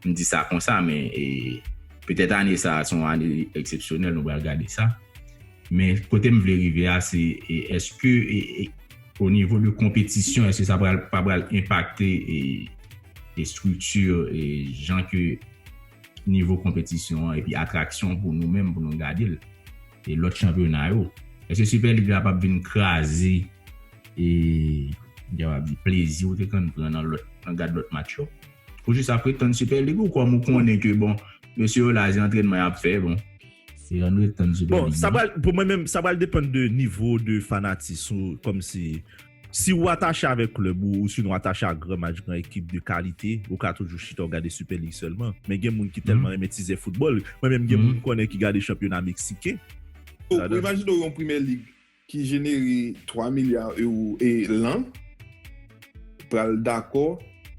[SPEAKER 1] m di sa konsa men e petèt ane sa son ane eksepsyonèl nou bal gade sa men kote m vle rive a se eske e o nivo de konpetisyon eske sa pral pa pral enpakte e estrikti e jan ke nivo konpetisyon an epi atraksyon pou nou menm pou nou gade l e lòt chanpyona yo èske Super League la pap vin kraze e m ta kapab di plezi ou te konn pran nan lòt nan gad lòt match yo ou jis ap retann Super League ou kòm ou konnen ke bon mesye yo la se antrènman y ap fè bon se yon retann Super League nan. Bon sa pral pou mwen menm
[SPEAKER 3] sa
[SPEAKER 1] pral depann
[SPEAKER 3] de nivo de fanatis ou kòmsi. Si ou atache avèk klèb ou osinon atache a gran match gran ekip de kalite, ou ka toujou chita ou gade Sipè Lig sèlman. Men gen moun ki tèlman renmen tizè foutbòl, mwen menm gen moun m konnen ki gade chanpyona meksiken. Ou imajine
[SPEAKER 2] w yon Primè Lig ki jenere 3 milya ewo lan pral dakò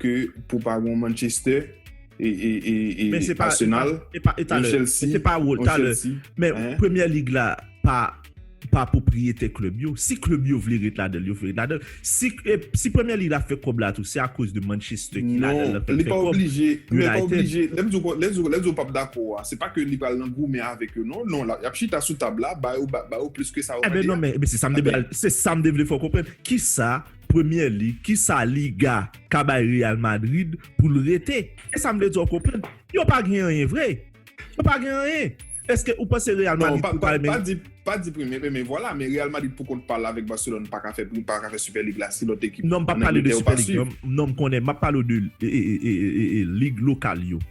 [SPEAKER 2] ke pou pa gen yon Manchestè, Asenal, yon Chelsea, yon Chelsea. Men se pa wòl talè.
[SPEAKER 3] Men Premyè Lig la pa. pa pwopriyetè klèb yo, si klèb yo vle ret ladan l, yo fè ret ladan l. Si si Premier League la fè kòb la tou, se akoz de Manchester ki ladan l lan fè l fè kòb. Non, li pa
[SPEAKER 2] oblije, men pa oblije, lè m di w, lè m di w, lè m di w pa p dakò a, se pa ke li pral nan goumen avèk yo non, non, y ap chita sou tab la, ba yo, ba yo plis ke sa yo mande a. Eben non men, eben se sa m te
[SPEAKER 3] pral, se sa m te vle fè w konprann, ki sa Premier League, ki sa Liga ka bay Real Madrid pou l rete? Se sa m vle di w konprann. Yo pa gen anyen vre. Ou pa gen anyen. Eske ou panse Real Madrid pou ka menm. Non, pa di
[SPEAKER 2] premye men vwala men Real Madrid pou kont pal avèk Barcelone pa ka fè prim, pa ka fè Super League la si lòt ekip an Angletè yo pa swiv.
[SPEAKER 3] Non, m konnen, m ap pale w de lig lokal yo.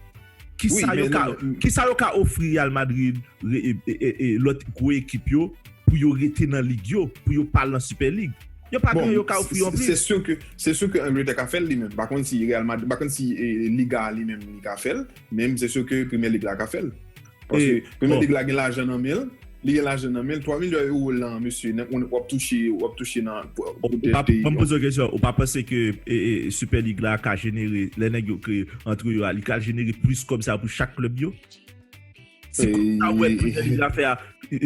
[SPEAKER 3] Kisa yo ka ofri Real Madrid e lòt gwo ekip yo pou yo rete nan lig yo, pou yo pa al nan Super League? Yo pa gen anyen yo ka ofri yo anplis. Se su ke
[SPEAKER 2] Angletè ka fè l li menm. M pa konn si Real Madrid, m pa konn si Liga a li menm li ka fè l. Menm se sou ke Premye Lig la ka fè l. Paske Premye Lig la gen lajan nan men l. Li gen lajan nan men l. 3 milyon euro lan, mesye, w ap touche, w ap touche nan peyi.
[SPEAKER 3] Mwen poze yon kesyon. Ou pa panse ke Super Lig la ka jenere, lè nèg yo kreye antre yo a, li ka jenere plis kòb sa pou chak klèb yo? Si pou sa ou wè premyè lig la fè a,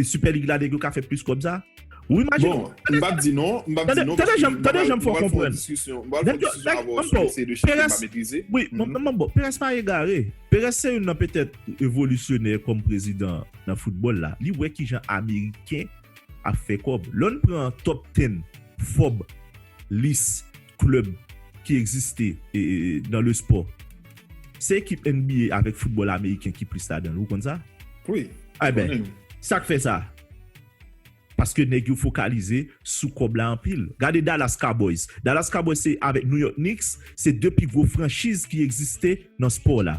[SPEAKER 3] sipè lig la nèg yo ka fè plis kòb sa? Ou imajine Bon, m pap di non,
[SPEAKER 2] m pap di non Tande janm, tande
[SPEAKER 3] janm fè w konprann. M pral fè yon diskisyon avè w sou mesye de chèf ke m pa metrize. Wi, m ap ban, Perez pa egare. Perez se youn nan petèt revolisyonè kòm prezidan nan foutbòl la. Li wè ki jan ameriken ap fè kòb. Lè w pran top ten, fob, lis. club ki egziste nan le sport se ekip NBA avek football ameriken ki plis la danl ou konn sa? Wi mwen konnen
[SPEAKER 2] yo.
[SPEAKER 3] Sak fè sa? Paske neg yo fokalize sou kob la anpil. Gade Dallas Cowboys. Dallas Cowboys se avek New York Knicks se 2 pi gwo franchiz ki egziste nan sport la.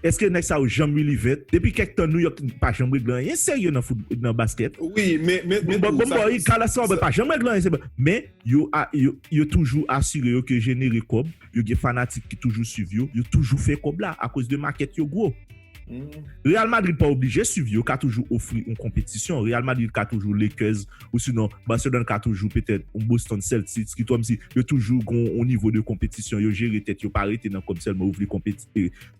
[SPEAKER 3] Eske nèg sa yo janm ri Livèt? Depi kèk tan Nouyòk Knick pa janm regle anyen serye nan fout nan baskèt. Wi, men men
[SPEAKER 2] men tou sa Bon, Carlos
[SPEAKER 3] Fabre pa janm regle anyen se bon. Men, yo a yo yo toujou asire yo ke yo jenere kòb, yo gen fanatik ki toujou swiv yo, yo toujou fè kòb la akoz de makèt yo gwo. Real Madrid pa oblije swiv yo, yo ka toujou ofri yon konpetisyon. Real Madrid ka toujou Lakers osinon Barcelone ka toujou petèt yon Boston Celtics ki kòmsi yo toujou gon yon nivo de konpetisyon, yo jere tèt yo pa rete nan kòb sèlman, yo vle konpeti.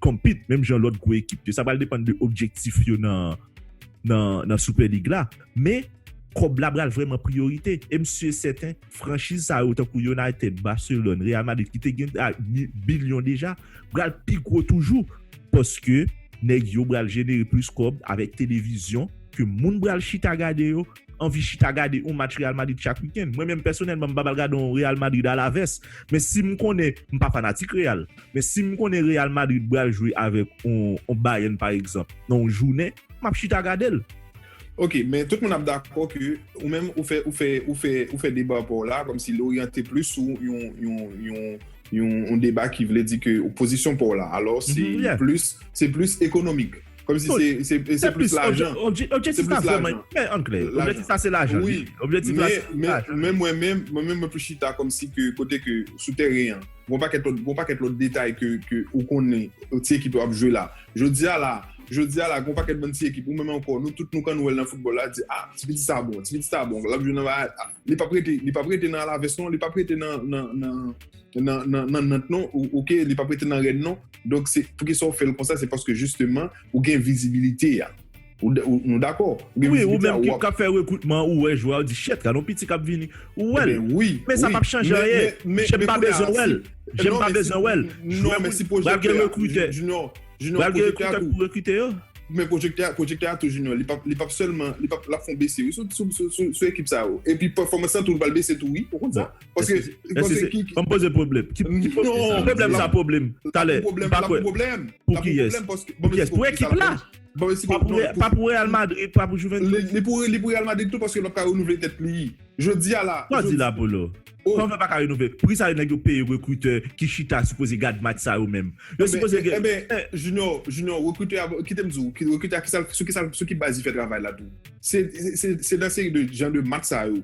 [SPEAKER 3] compete menm jan lòt gwo ekip yo. Sa pral depann de objektif yo nan Super League la. Men, kòb la pral vrèman priyorite. E m si e sèten, franchiz sa yo tankou United, Barcelone, Real Madrid ki te gen bilyon deja, pral pi gwo toujou. Paske, nèg yo pral jenere plis kòb avèk televizyon ke moun pral chita gade yo. anvi chita gade yon match Real Madrid chak weekend. Mwen menm pèsonèlman m pa pral gade yon Real Madrid Alaves, men si m konnen, m pa fanatik Real, men si m konnen Real Madrid pral jwe avèk yon Bayern pa egzanp nan yon jounen, m ap chita gade l. Ok,
[SPEAKER 2] men tout moun ap dakò ke ou menm ou fè ou fè ou fè ou fè deba pa w la kòm si li oryante plis sou yon yon yon yon deba ki vle di ke pozisyon pa w la alò se plis se plis ekonomik. Kom si se plis lajan. Objektif la vreman
[SPEAKER 3] yon pè an kle. Objektif la se lajan. Wi. Objektif la se
[SPEAKER 2] lajan. Men mwen menm, mwen menm mwen plis chita kom si ke kote ke sou teren an. Gon pakèt lòt, gon pakèt lòt detay ke ou konnen ti ekip yo ap jwe la. Jodi a la, jodi a la gon pakèt bann ti ekip ou menm anko nou tout nou kan wèl nan foutbòl la di a ti piti sa bon, ti piti sa bon lap jwe nan li pap rete, li pap rete nan alavès non, li pap rete nan. nan nant non ok li pap rete nan rèn non donk se poukisa ou fèl konsa se paske jisteman ou gen vizibilite a nou dakò wi ou menm kap
[SPEAKER 3] fè rekrutman ou wè jwè ou di chet gadon piti kap vini ou wèl men
[SPEAKER 2] sa pap chanje
[SPEAKER 3] anyen jem pa bezwen wèl jem pa bezwen wèl
[SPEAKER 2] jwè moun pral gen rekrutè pral gen rekrutè
[SPEAKER 3] pou rekrite yo men
[SPEAKER 2] pwojektè a tou junior li pap sèlman lap fon bese wi sou ekip sa yo epi pèfòmans lan tou pral bese tou wi ou konn sa. Paske, paske ki... Banm poze
[SPEAKER 3] pwoblèm. Ki pwoblèm sa pwoblèm? Talè, pa kwe. Pou ki yes? Pou ki yes? Pou ekip la? Pa pou Real Madrid, pa pou Juventus?
[SPEAKER 2] Li pou Real
[SPEAKER 3] Madrid
[SPEAKER 2] tou paske l
[SPEAKER 3] ap ka
[SPEAKER 2] renouvle
[SPEAKER 3] tèt
[SPEAKER 2] li. Jodi a la...
[SPEAKER 3] Sa w
[SPEAKER 2] di la
[SPEAKER 3] Polo?
[SPEAKER 2] Kòman
[SPEAKER 3] l pa ka renouvle? Pri sa nèg yo peye rekritè ki chita sipoze gad match sa yo menm. Yo sipoze gen... Enben,
[SPEAKER 2] Junior, Junior, rekritè a, kite m di w, rekritè a sou ki baz li fè travay la tou? Se nan seri de jan de match sa yo.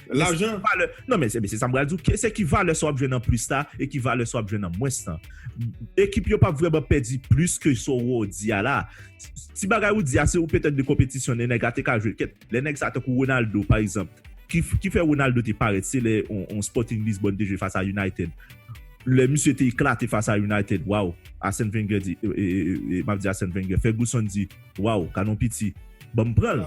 [SPEAKER 2] Lajan. Non men se
[SPEAKER 3] sa m pral di w. Se ki valè sa w ap jwenn an plis la e ki valè sa w ap jwenn an mwens la. Ekip yo pa vrèman pèdi plis ke sa w di a la. Ti bagay ou di a se ou petèt de konpetisyon lè nèg la te ka jwe kèt. Lè nèg sa tankou Ronaldo pa egzanp. Ki fè Ronaldo te parèt se lè yon Sporting Lisbonne te jwe fas a United. Lè misye te eklate fas a United. Waww! Arsène Wenger di. M ap di Arsène Wenger. Ferguson di. Waw kanon piti banm pran l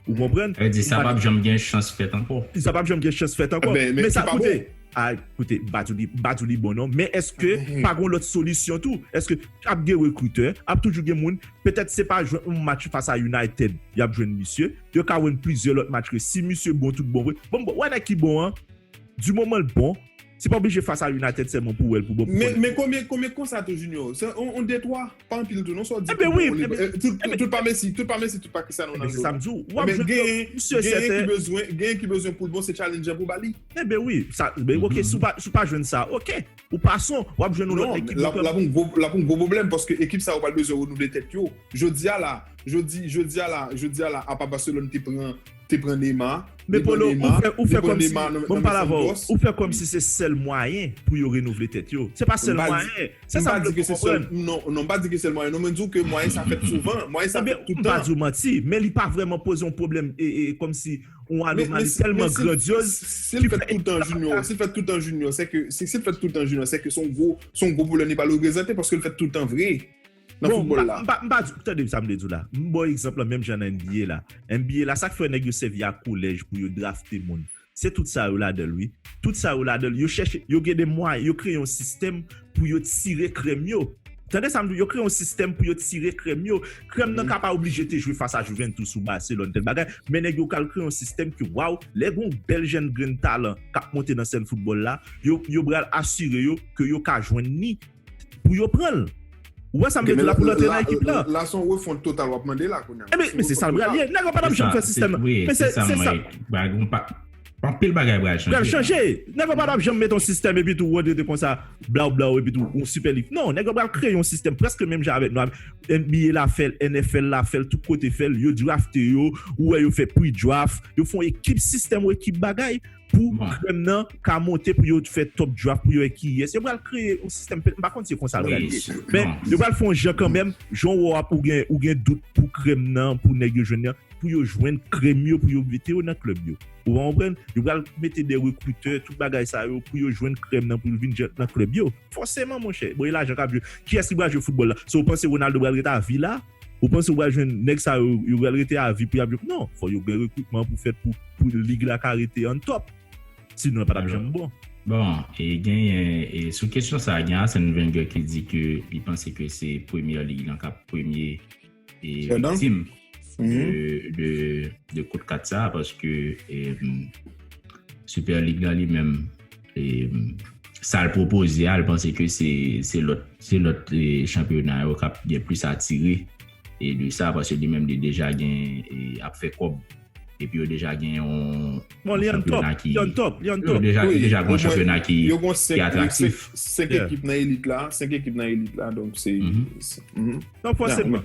[SPEAKER 3] ou konprann. Vle di sa pap janm gen
[SPEAKER 1] chans fèt ankò. Sa pap janm gen chans fèt
[SPEAKER 3] ankò. Men sa koute a koute m pa di m pa di w li bon non men eske pa gon lòt solisyon tou eske ap gen rekritè ap toujou gen moun petèt se pa jwenn yon match fas a United y ap jwenn misye yo ka win plizyè lòt match ke si misye bon tout bon vre bon m wè nèg ki bon an di moman l bon se pa oblije fas a United sèlman pou w wè l pou bon pou w konnen l bon. Men konbyen konbyen konsa
[SPEAKER 2] tou Junior se yon de twa. Pa anpil tou non sa w di tout bon liv.
[SPEAKER 3] Tout pa mesi,
[SPEAKER 2] tout pa mesi, tout pa Cristiano Ronaldo. Ebe se sa m di w. Wap jwenn
[SPEAKER 3] yo, m si e
[SPEAKER 2] sèten. Gen yon ki bezwen, gen yon ki bezwen pou l bon se challenger pou ba li. Ebe wi, sa,
[SPEAKER 3] ok, si w pa jwenn sa, ok. Ou pa son, wap jwenn yon lòt ekip. Non, la pou yon gwo, la pou yon
[SPEAKER 2] gwo pwoblèm paske ekip sa yo pral bezwen renouvle tèt yo. Jodi a la, jodi, jodi a la, jodi a la apa Barcelone te pran te pran Nema, Me Polo ou fè
[SPEAKER 3] ou fè kòmsi bon pale avèw ou fè kòmsi se sèl mwayen pou yo renouvle tèt yo se pa sèl mwayen se sa mwen fè
[SPEAKER 2] konprann non non mpa di ke sèl mwayen non mwen diw ke mwayen sa fèt souvan mwayen sa fèt toutan mpa diw manti men li
[SPEAKER 3] pa vrèman poze yon pwoblèm e e kòmsi yon anomali tèlman grandyoz sil fèt toutan
[SPEAKER 2] Junior sil fèt toutan Junior sèke sil fèt toutan Junior sèke son gwo son gwo pwoblèm li pa reprezante paskel fèt toutan vre. nan foutbòl la.
[SPEAKER 3] Bon, m pa di, tande sa m vle di w la. M ba w egzanp lan menm jan nan NBA la. NBA la, sa k fè nèg yo sèvi ak kolèj pou yo drafte moun? Se tout sa yo ladan l wi. Tout sa yo ladan l. Yo chèche, yo gen de mwayen, yo kreye yon sistèm pou yo tire krèm yo. Tande sa m di w, yo kreye yon sistèm pou yo tire krèm yo. Krèm nan ka pa oblije te jwe fas a Juventus ou Barcelone, tèl bagay, men nèg yo pral kreye yon sistèm ke waw, lè gen yon bèl jèn grenn talan k ap monte nan sèn foutbòl la, yo pral asire yo ke yo ka jwenn ni pou yo pran l. Ou wè sa m vle di w la pou l antre nan ekip la. La son refont total
[SPEAKER 2] w ap mande la kounya. Ebyen men se sa l pral ye.
[SPEAKER 3] Nèg yo pa t ap janm fè sistèm nan. Wi se sa m wè.
[SPEAKER 1] Bagon pa anpil bagay pral chanje. Pral chanje. Nèg yo
[SPEAKER 3] pa t ap janm mete yon sistèm epi tou Rodri te konsa blaw blaw epi tou yon sipè lik. Non nèg yo pral kreye yon sistèm prèske menm jan avèk nou a NBA la fè l NFL la fè l tout kote fè l yo drafte yo ou wè yo fè pre-draft yo fon ekip sistèm ou ekip bagay. pou krèm nan ka monte pou yo fè top draft pou yo wè kiyès yo pral kreye yon sistèm m pa konn se konsa l pral ye men yo pral fè yon jan kanmenm jan w wè w ap ou gen ou gen dout pou krèm nan pou nèg yo jwenn nan pou yo jwenn krèm yo pou yo mete yo nan klèb yo ou va konprann yo pral mete de rekritè tout bagay sa yo pou yo jwenn krèm nan pou l vin jwenn nan klèb yo fòseman monchè bon e lajan k ap jwe kiyès ki pral jwe foutbòl la se w panse Ronaldo pral ret avi la. Ou panse ou pral jwenn nèg sa yo yo pral rete avi pou yap jwe non fò yo gen rekrutman pou fèt pou pou lig la ka rete an top si non l patap janm bon. Bon, e
[SPEAKER 1] genyen e sou kesyon sa gen Arsène Wenger ki di ke li panse ke se Premier League lan kap premye e viktim de de de kout kat sa paske e Super League la li menm sa l pwopoze a, l panse ke se lòt chanpyona yo k ap gen plis atire de sa, paske li menm li deja gen, ap fè kòb, epi yo deja gen yon chanpyona ki, yo deja gen yon chanpyona ki atraktif. Yo gen 5 ekip nan
[SPEAKER 2] elit la, 5 ekip nan elit la, donk se. Donk
[SPEAKER 3] fòseman,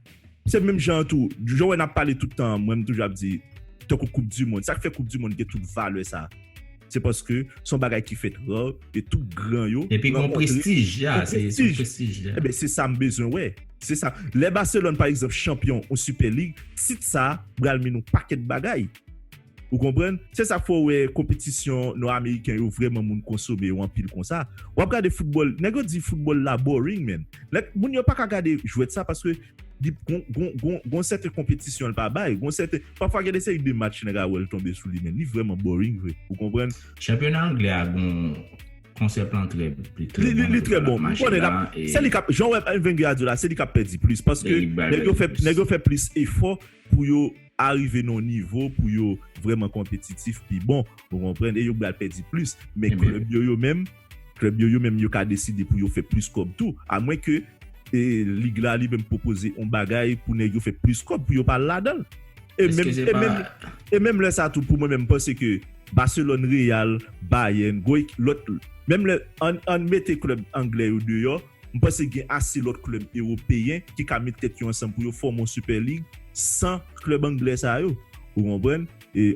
[SPEAKER 3] Se menm jan an tou, jan wè nap pale tout tan an, mwen m toujou ap di tankou koup di mond, sak fè koup di mond gen tout valè sa, se paske son bagay ki fèt rare e tout gran yo Epi gon prestij,
[SPEAKER 1] ya, se son prestij, ya. Enben se sa m bezwen
[SPEAKER 3] wè, se sa, lè Barcelone pa egzanp chanpyon yon Super League, tit sa pral min yon pakèt bagay. Ou konprann? Se sa k fè w wè konpetisyon nò-ameriken yo vrèman moun konsome yo anpil konsa. W ap gade foutbòl, nèg yo di foutbòl la boring menn. Nèg, moun yo pa ka gade jwèt sa paske li gon, gon, gon, gon sèten konpetisyon l pa bay, gon sèten, pafwa gen de seri de match nèg a wè l tonbe sou li menn. Li vrèman boring vre. Ou konprann? Chanpyona anglè a
[SPEAKER 1] gon, konsèp lan trè, li trè bon. Li trè bon. M
[SPEAKER 3] konnen l ap, se li k ap, jan w wè Wenger a di w la, se li k ap pèdi plis paske nèg yo fè, nèg yo fè plis efò pou yo. arive nan yon nivo pou yo vrèman konpetitif pi bon ou konprann e yo pral pèdi plis men klèb yo yo menm klèb yo yo menm yo ka deside pou yo fè plis kòb tou a mwen ke e lig la li menm pwopoze yon bagay pou nèg yo fè plis kòb pou yo pa al ladanl e menm e menm e menm lè sa tou pou mwen menm m panse ke Barcelone Real Bayern gwo ekip lòt menm lè ann ann mete klèb anglè yo deyò. M panse gen ase lòt klèb ewopeyen ki ka met tèt yo ansanm pou yo fòme yon Super League san klèb anglè sa yo. Ou konprann?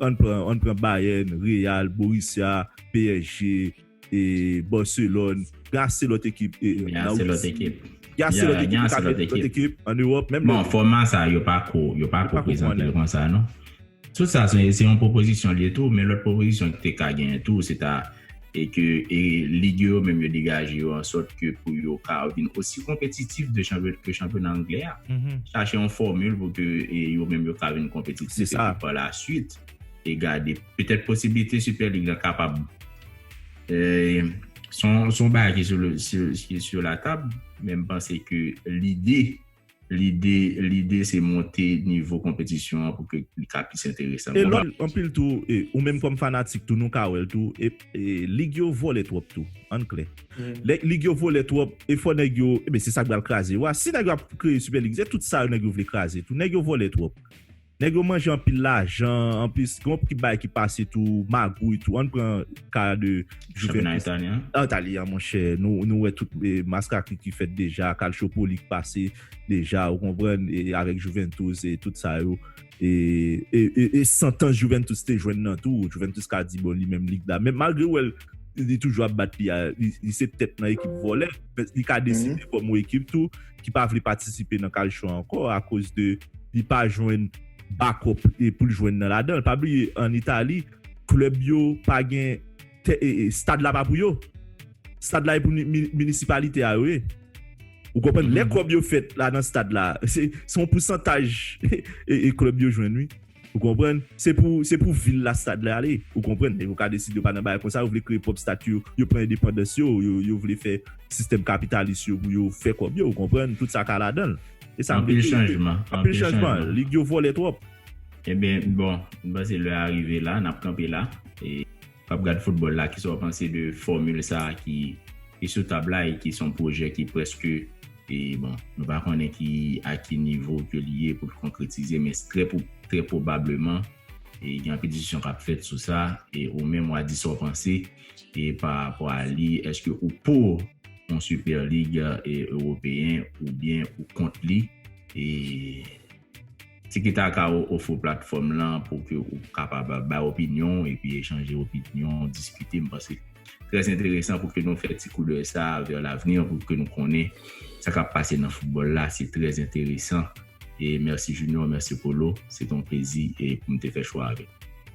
[SPEAKER 3] Ann pran ann pran Bayern, Real, Borussia, psg, Barcelone, gen ase lòt ekip Gen ase lòt ekip Gen ase lòt ekip yo ka met lòt ekip an Ewòp menm lè Bon fòma sa yo
[SPEAKER 1] pako yo pako prezante l konsa non. Tout sa se yon pwopozisyon li ye tou, men lòt pwopozisyon ki te ka genyen tou se ta e ke lig yo yo menm yo degaje yo an sòt ke pou yo ka vin osi konpetitif de ke chanpyona angle a. Chache yon fòmil pou ke yo menm yo ka vin konpetitif e ke pa la swit e gade petèt posiblite Sipè Lig la kapab se yon bagay ki sou latab men m panse ke lide Lide lide se monte nivo konpetisyon an pou ke li ka plis enteresan. E lòt anpil tou,
[SPEAKER 3] ou menm kòm fanatik tou nou ka wè l tou, lig yo vole twòp tou, ann klè. Lè lig yo vole twòp, e fò nèg yo, se sa k pral kraze yo a. Si nèg yo ap kreye Sipèlig, se tout sa yo nèg yo vle kraze tou. Nèg yo vole twòp. Nèg yo manje anpil lajan anplis gen yon ki bagay ki pase tou magouy tou ann pran ka de Juventus chanpyona
[SPEAKER 1] italyen
[SPEAKER 3] monchè nou wè tout maskakri ki fèt deja calciopoli ki pase deja ou konprann avèk Juventus e tout sa yo e santans Juventus te jwenn nan tou Juventus ka di bon li menm lig la men malgre ou wè l li toujou ap bat li a li se tèt nan ekip vòlè li ka deside fòm yon ekip tou. ki pa vle patisipe nan kalchon an ankò akoz de li pa jwenn bakòp pou l jwenn nan ladan l. Pa bliye an Itali, klèb yo pa gen tè, stad la pa pou yo. Stad la e pou minisipalite a yo ye. Ou konprann? Lè kòb yo fèt la nan stad la, se yon pousantaj klèb yo jwenn wi. Ou konprann? Se pou se pou vil la stad la ale. Ou konprann? Men yo ka deside yo pa nan bagay konsa, yo vle kreye pwòp stati yo, yo pran endepandans yo, yo vle fè sistèm kapitalis yo pou yo fè kòb yo, ou konprann? Tout sa ka ladan l. E sa m vle di. Anpil chanjman. Anpil
[SPEAKER 1] chanjman. Lig
[SPEAKER 3] yo vòlè twòp. Ebyen
[SPEAKER 1] bon, m panse lè a rive la, n ap kanpe la. w ap gad foutbòl la, kisa w panse de fòmil sa a ki sou tab la e ki son pwojè ki prèske, e bon, nou pa konnen ki a ki nivo ke li ye pou l konkretize, men trè pou trè pwobableman e gen anpil diskisyon k ap fèt sou sa, e ou menm w a di sa w panse e pa rapò a li, èske ou pou yon Super League Ewopeyen oubyen ou kont li, e. Tiki-taka ou ofre platfòm lan pou ke ou kapab bay opinyon ou epi echanje opinyon, diskite. M panse trè enteresan pou ke nou fè ti koudèy sa a vè lavni an pou ke nou konnen sa k ap pase nan foutbòl la. Se trè enteresan. E mèsi Junior, mèsi Polo. Se te yon plezi pou m te
[SPEAKER 2] fè
[SPEAKER 1] chwa avèk nou.